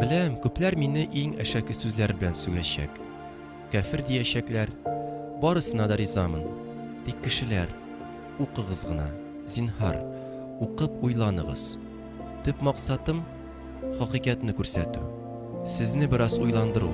Беләм, күпләр мине иң әшәке сүзләр белән сүгәчәк. Кәфер диячәкләр. Барысына да ризамын. Тик кешеләр, укыгыз гына, зинһар, укып уйланыгыз. Төп максатым хакыйкатьне күрсәтү, сезне бераз уйландыру,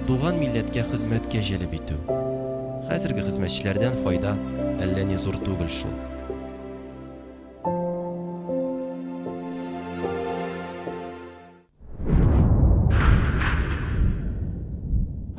туган милләткә хезмәткә җәлеп итү. Хәзерге хезмәтчеләрдән файда әллә ни зур түгел шул.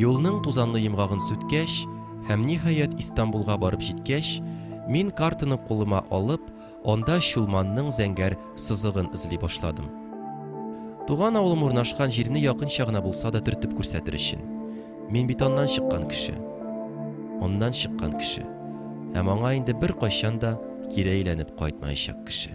Юлның тузанлы йомгагын сүткәч һәм ниһаять Истанбулга барып җиткәч, мин картаны кулыма алып, анда Чулманның зәңгәр сызыгын эзли башладым. Туган авылым урнашкан җирне якынча гына булса да төртеп күрсәтер өчен. Мин бит аннан чыккан кеше. Аннан чыккан кеше. Һәм аңа инде бер кайчан да кире әйләнеп кайтмаячак кеше.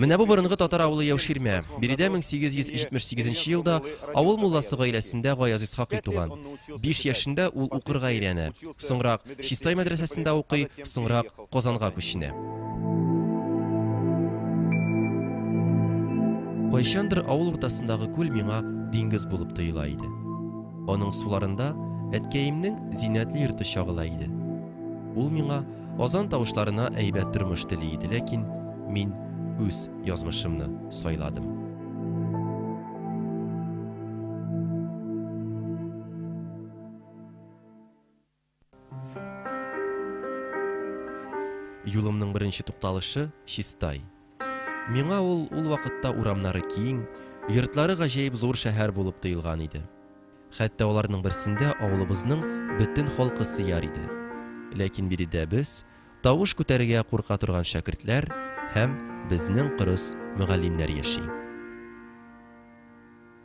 Менә бу борынгы татар авылы Яуширмә. Биредә 1878 нче елда авыл мулласы гаиләсендә Гаяз Исхакый туган. Биш яшендә ул укырга өйрәнә. Соңрак Чистай мәдрәсәсендә укый, соңрак Казанга күченә. Кайчандыр авыл уртасындагы күл миңа диңгез булып тоела иде. Аның суларында әткәемнең зиннәтле йорты чагыла иде. Ул миңа Азан тавышларына әйбәт тормыш тели иде, ләкин мин үз язмышымны сайладым. Юлымның беренче тукталышы Чистай. Миңа ул ул вакытта урамнары киң, йортлары гаҗәеп зур шәһәр булып тоелган иде. Хәтта аларның берсендә авылыбызның бөтен халкы сыяр иде. Ләкин биредә без, тавыш күтәрергә курка торган шәкертләр һәм безнең кырыс мөгаллимнәр яши.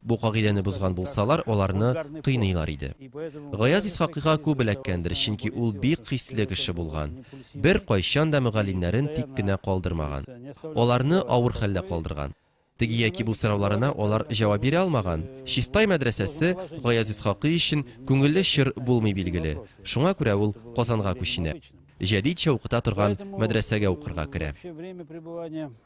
Бу кагыйдәне бозган булсалар, аларны кыйныйлар иде. Гаяз Исхакыйга күп эләккәндер, чөнки ул бик хисле кеше булган, беркайчан да мөгаллимнәрен тик кенә калдырмаган. Аларны авыр хәлдә калдырган. Теге яки бу сорауларына алар җавап бирә алмаган. Чистай мәдрәсәсе Гаяз Исхакый өчен күңелле чор булмый билгеле, шуңа күрә ул Казанга күченә. Җәдит чә укыта торган мәдрәсәгә укырга керә.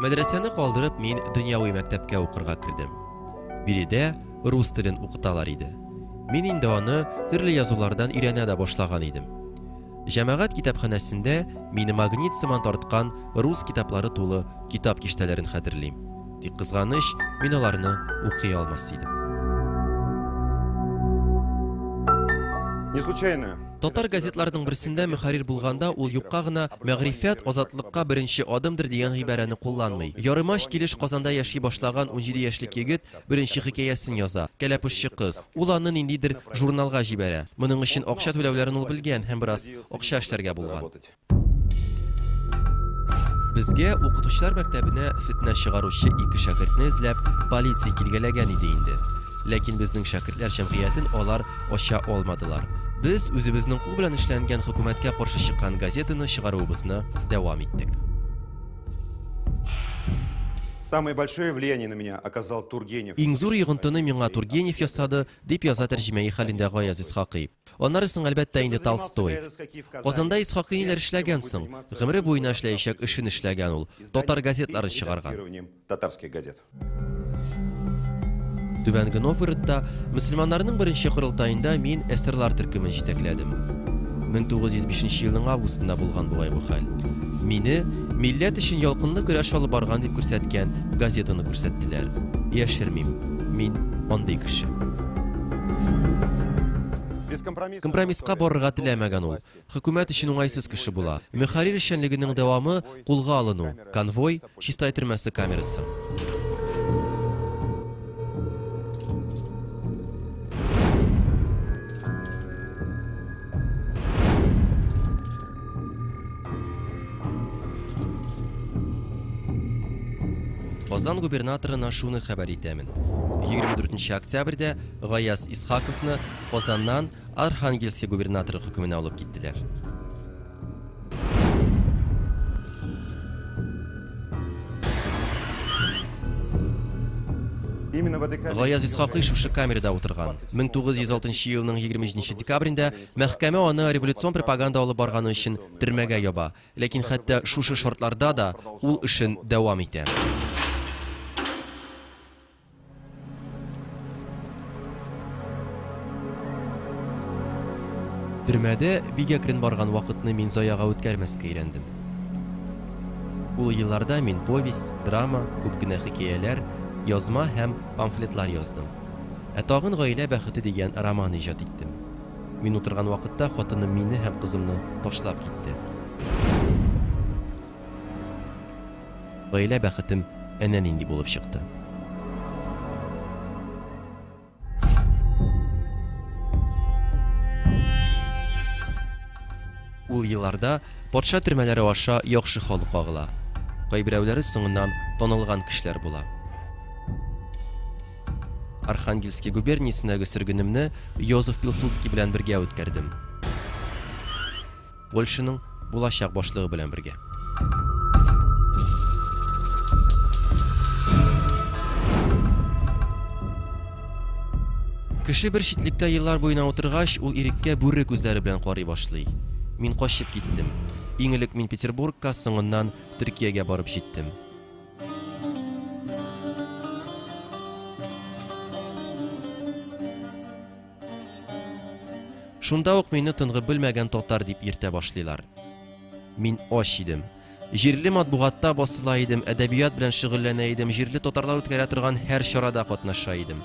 Мәдрәсәне калдырып, мин дөньяви мәктәпкә укырга кердем. Биредә рус телен укыталар иде. Мин инде аны төрле язулардан өйрәнә дә башлаган идем. Җәмәгать китапханәсендә мине магнит сыман тарткан рус китаплары тулы китап киштәләрен хәтерлим. Тик кызганыч, мин аларны укый алмас идем. Не случайно Татар газетларының берсендә мөхәррир булганда ул юкка гына мәгърифәт азатлыкка беренче адымдыр дигән гыйбарәне кулланмый. Ярымач килеш Казанда яши башлаган унҗиде яшьлек егет беренче хикәясен яза, Кәләпүшче кыз. Ул аны ниндидер журналга җибәрә. Моның өчен акча түләүләрен ул белгән һәм бераз акча эшләргә булган. Безгә укытучылар мәктәбенә фетнә чыгаручы ике шәкертне эзләп полиция килгәләгән иде инде. Ләкин безнең шәкертләр җәмгыятен алар ача алмадылар. Без үзебезнең кул белән эшләнгән хөкүмәткә каршы чыккан газетаны чыгаруыбызны дәвам иттек. Самое большое влияние на меня оказал Тургенев. Иң зур йогынтыны миңа Тургенев ясады, дип яза тәрҗемәи хәлендә Гаяз Исхакый. Аннары соң, әлбәттә инде, Толстой. Казанда Исхакыйниләр эшләгән соң, гомере буена эшләячәк эшен эшләгән ул, татар газетларын чыгарган. Түбәнге Новгородта мөселманнарның беренче корылтаенда мин эсерлар төркемен җитәкләдем. 1905 елның августында булган бугай бу хәл. Мине милләт өчен ялкынлы көрәш алып барган дип күрсәткән газетаны күрсәттеләр. Яшермим. Мин андый кеше. Компромисска барырга теләмәгән ул. Хөкүмәт өчен уңайсыз кеше була. Мөхәррир эшчәнлегенең дәвамы кулга алыну, конвой, Чистай төрмәсе камерасы. Казан губернаторына шуны хәбәр итәмен. 24 октябрьдә Гаяз Исхаковны Казаннан Архангельский губернаторы хөкеменә алып киттеләр. Гаяз Исхакый шушы камерада утырган. 1906 елның 23 декабрендә Мәхкәмә аны революцион пропаганда алып барганы өчен төрмәгә яба. Ләкин хәтта шушы шартларда да ул эшен дәвам итә. Төрмәдә бик әкрен барган вакытны мин заяга үткәрмәскә өйрәндем. Ул елларда мин повесть, драма, күп кенә хикәяләр, язма һәм памфлетлар яздым. Ә тагын Гаилә бәхете дигән роман иҗат иттем. Мин утырган вакытта хатыным мине һәм кызымны ташлап китте. Гаилә бәхетем әнә нинди булып чыкты. Ул елларда патша төрмәләре аша яхшы халык агыла. Кайберәүләре соңыннан танылган кешеләр була. Архангельски губерниясендәге сөргенемне Йозеф Пилсудский белән бергә үткәрдем. Польшаның булачак башлыгы белән бергә. Кеше бер читлектә еллар буена утыргач, ул иреккә бүре күзләре белән карый башлый. Мин качып киттем. Иң элек мин Петербургка, соңыннан Төркиягә барып җиттем. Шунда ук мине тынгы белмәгән татар дип йөртә башлыйлар. Мин ач идем. Җирле матбугатта басыла идем, әдәбият белән шөгыльләнә идем, җирле татарлар үткәрә торган һәр чарада катнаша идем.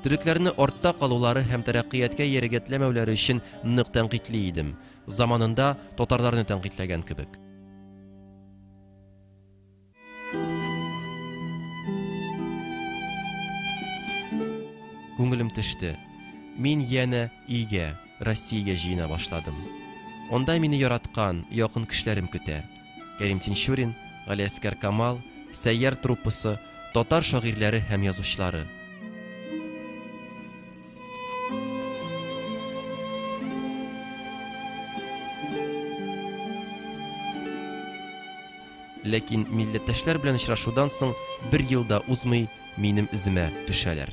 Төрекләрне артта калулары һәм тәрәккыятькә ярегәтләмәүләре өчен нык тәнкыйтьли идем, заманында татарларны тәнкыйтьләгән кебек. Күңелем төште. Мин янә өйгә, Россиягә җыена башладым. Онда мине яраткан, якын кешеләрем көтә. Кәрим Тинчурин, Галиәскәр Камал, Сәйяр труппасы, татар шагыйрьләре һәм язучылары. Ләкин милләттәшләр белән очрашудан соң бер ел да узмый, минем эземә төшәләр.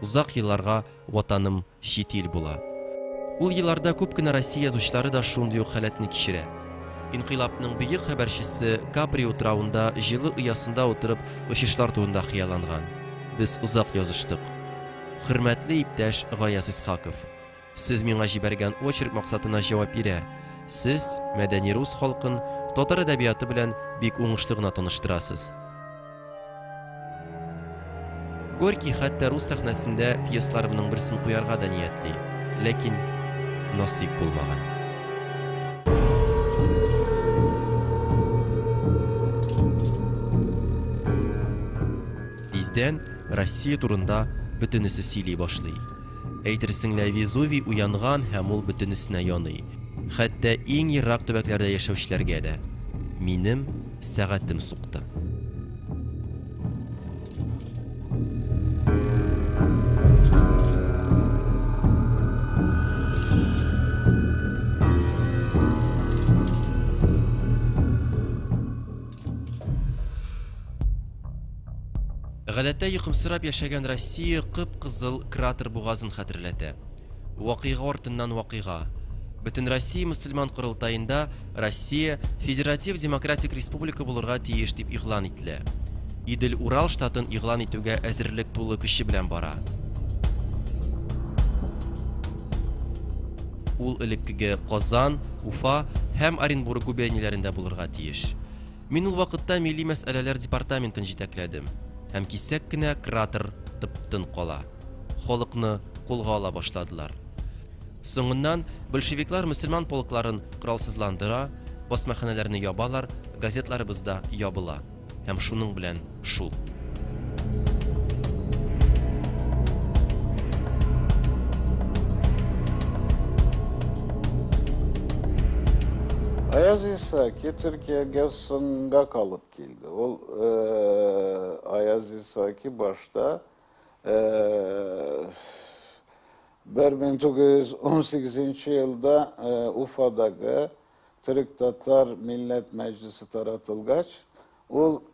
Озак елларга ватаным чит ил була. Ул елларда күп кенә Россия язучылары да шундый ук халәтне кичерә. Инкыйлабның бөек хәбәрчесе Капри утравында җылы оясында утырып очышлар турында хыялланган. Без озак языштык. Хөрмәтле иптәш Гаяз Исхаков! Сез миңа җибәргән очерк максатына җавап бирә, сез мәдәни рус халкын татар әдәбияты белән бик уңышлы гына таныштырасыз. Горький хәтта рус сәхнәсендә пьесларымның берсен куярга да ниятли, ләкин насыйп булмаган. Тиздән Россия турында бөтенесе сөйли башлый. Әйтерсең лә Везувий уянган һәм ул бөтенесенә яный. Хәтта иң ерак төбәкләрдә яшәүчеләргә дә. Минем сәгатем сукты. Гадәттә йокымсырап яшәгән Россия кып-кызыл кратер бугазын хәтерләтә. Вакыйга артыннан вакыйга. Бөтенроссия мөселман корылтаенда Россия федератив демократик республика булырга тиеш дип игълан ителә. Идел-Урал штатын игълан итүгә әзерлек тулы көче белән бара. Ул элеккеге Казан, Уфа һәм Оренбург губернияләрендә булырга тиеш. Мин ул вакытта милли мәсьәләләр департаментын җитәкләдем. Һәм кисәк кенә кратер тып-тын кала. Халыкны кулга ала башладылар. Соңыннан большевиклар мөселман полкларын коралсызландыра, басмаханәләрне ябалар, газетларыбыз да ябыла. Һәм шуның белән шул. Аяз Исаки Төркиягә сынга калып килде. Ул э, Аяз Исаки башта 1918 э, елда э, Уфадагы Төрек-татар милләт мәҗлесе таратылгач, ул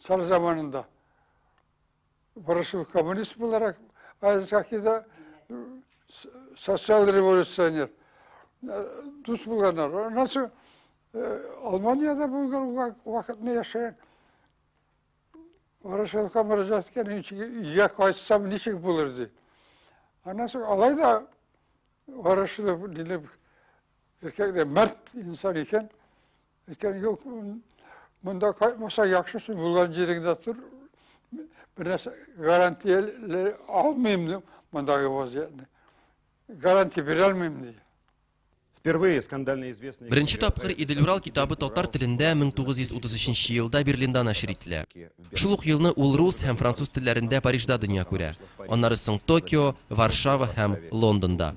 Цар заманында Ворошилов коммунист буларак, Азиз Хакида социал революционер. Дус булганнар. Аннан соң Алманияда булган вакытны яшәгән. Ворошиловка мөрәҗәгать иткән, ничек өйгә кайтсам, ничек булыр ди. Аннан соң алай да Ворошилов дилеп, эркәк мәрт инсан икән. Әйткән, юк, монда кайтмаса яхшысы булган җиреңдә тор. Бернәрсә гарантияле алмыйм мондагы вазиятне. Гарантия бирә алмыйм ди. Впервые скандально известный... Беренче тапкыр Идель-Урал китабы татар телендә 1933 елда Берлинда нәшер ителә. Шул ук елны ул рус һәм француз телләрендә Парижда дөнья күрә. Аннары соң Токио, Варшава һәм Лондонда.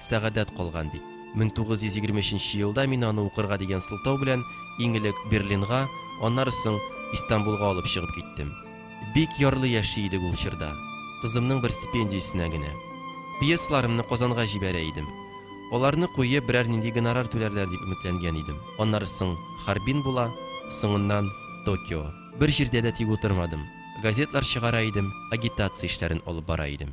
Сәгадәт калган бит. 1923 елда мин аны укырга дигән сылтау белән иң элек Берлинга, аннары соң Истанбулга алып чыгып киттем. Бик ярлы яши идек ул чорда. Кызымның бер стипендиясенә генә. Пьесаларымны Казанга җибәрә идем. Аларны куеп, берәр нинди гонорар түләрләр дип өметләнгән идем. Аннары соң Харбин була, соңыннан Токио. Бер җирдә дә тик утырмадым. Газетлар чыгара идем, агитация эшләрен алып бара идем.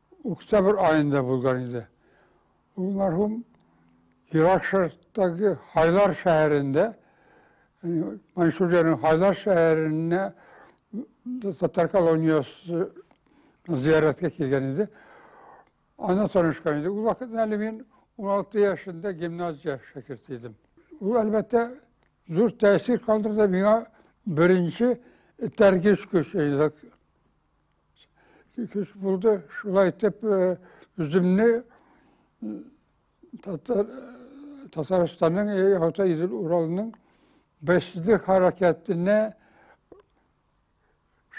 Октябрь аенда булган иде. Ул мәрхүм Ирак Шәрыктагы Хайлар шәһәрендә, Маньчжуриянең Хайлар шәһәренә татар колониясе зияраткә килгән иде. Ана танышкан иде. Ул вакытта әле мин 16 яшендә гимназия шәкерте идем. Ул, әлбәттә, зур тәэсир калдырды миңа беренче этәргеч көч, Көз булды, шулай итеп үземне Татарстанның Орта Идел Уралының бәйсезлек хәрәкәтенә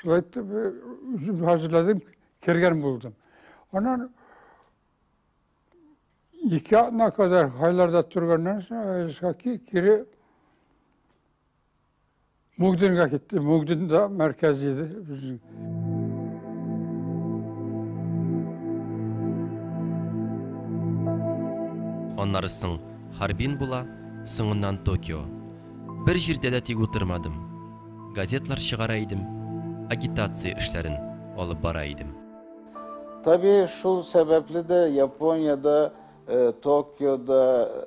шулай итеп үзем хәзерләдем, кергән булдым. Аннан ике атна кадәр хайларда торганнан соң кире Мөгденгә китте. Мөгден дә мәркәз иде безнең. Аннары соң Харбин була, соңыннан Токио. Бер җирдә дә тик утырмадым. Газетлар чыгара идем, агитация эшләрен алып бара идем. Табигый, шул сәбәпле дә Япониядә, Токиода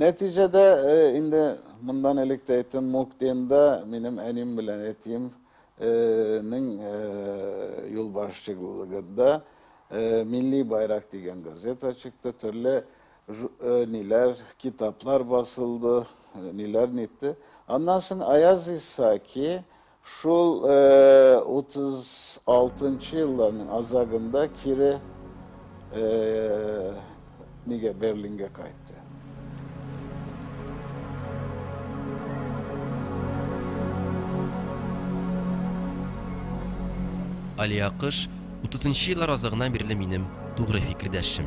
Нәтиҗәдә, инде мондан элек тә әйттем, Муктенда минем әним белән әтием нең юлбашчыгылыгында Милли байрак дигән газета чыкты, төрле ниләр, китаплар басылды, ниләр нитте. Аннан соң Аяз Исаки Шул 36 елларның азагында кире нигә Берлингә кайтты. Алия Кыш 30 еллар азагына бирле минем тугры фикердәшем.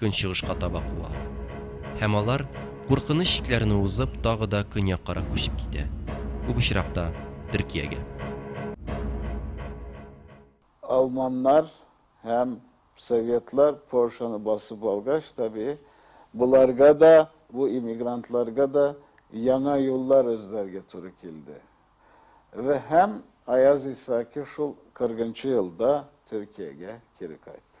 көнчыгышка таба куа. Һәм алар, куркыныч чикләрне узып, тагы да көньяккарак күчеп китә, күп очракта, Төркиягә. Алманнар һәм советлар Польшаны басып алгач, табии, боларга да, бу иммигрантларга да яңа юллар эзләргә туры килде. Вә һәм Аяз Исаки шул 40 нчы елда Төркиягә кире кайтты.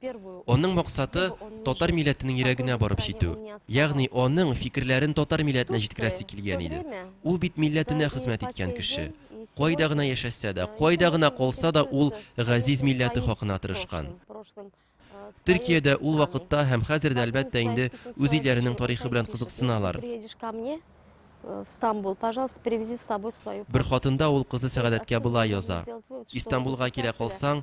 Аның максаты, татар милләтенең йөрәгенә барып җитү. Ягъни аның фикерләрен татар милләтенә җиткерәсе килгән иде. Ул бит милләтенә хезмәт иткән кеше. Кайда гына яшәсә дә, кайда гына калса да, ул газиз милләте хакына тырышкан. Төркиядә ул вакытта һәм хәзер дә, әлбәттә, инде үз илләренең тарихы белән кызыксыналар. Бер хатында ул кызы Сәгадәткә болай яза, Истанбулга килә калсаң,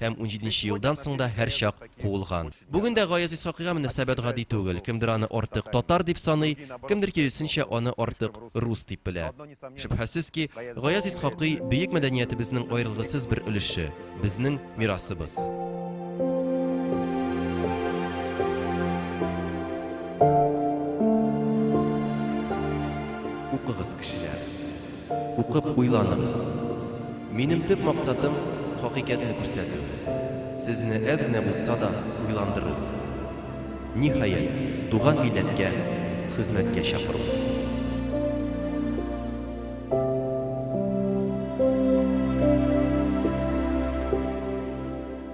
Һәм унҗиденче елдан соң да һәрчак куылган. Бүген дә Гаяз Исхакыйга мөнәсәбәт гади түгел, кемдер аны артык татар дип саный, кемдер киресенчә аны артык рус дип белә. Шөбһәсез ки, Гаяз Исхакый, бөек мәдәниятебезнең аерылгысыз бер өлеше, безнең мирасыбыз. Укып уйланыгыз. Минем төп максатым, хакыйкатьне күрсәтү. Сезне әз генә булса да уйландыру. Ниһаять, туган милләткә хезмәткә чакыру.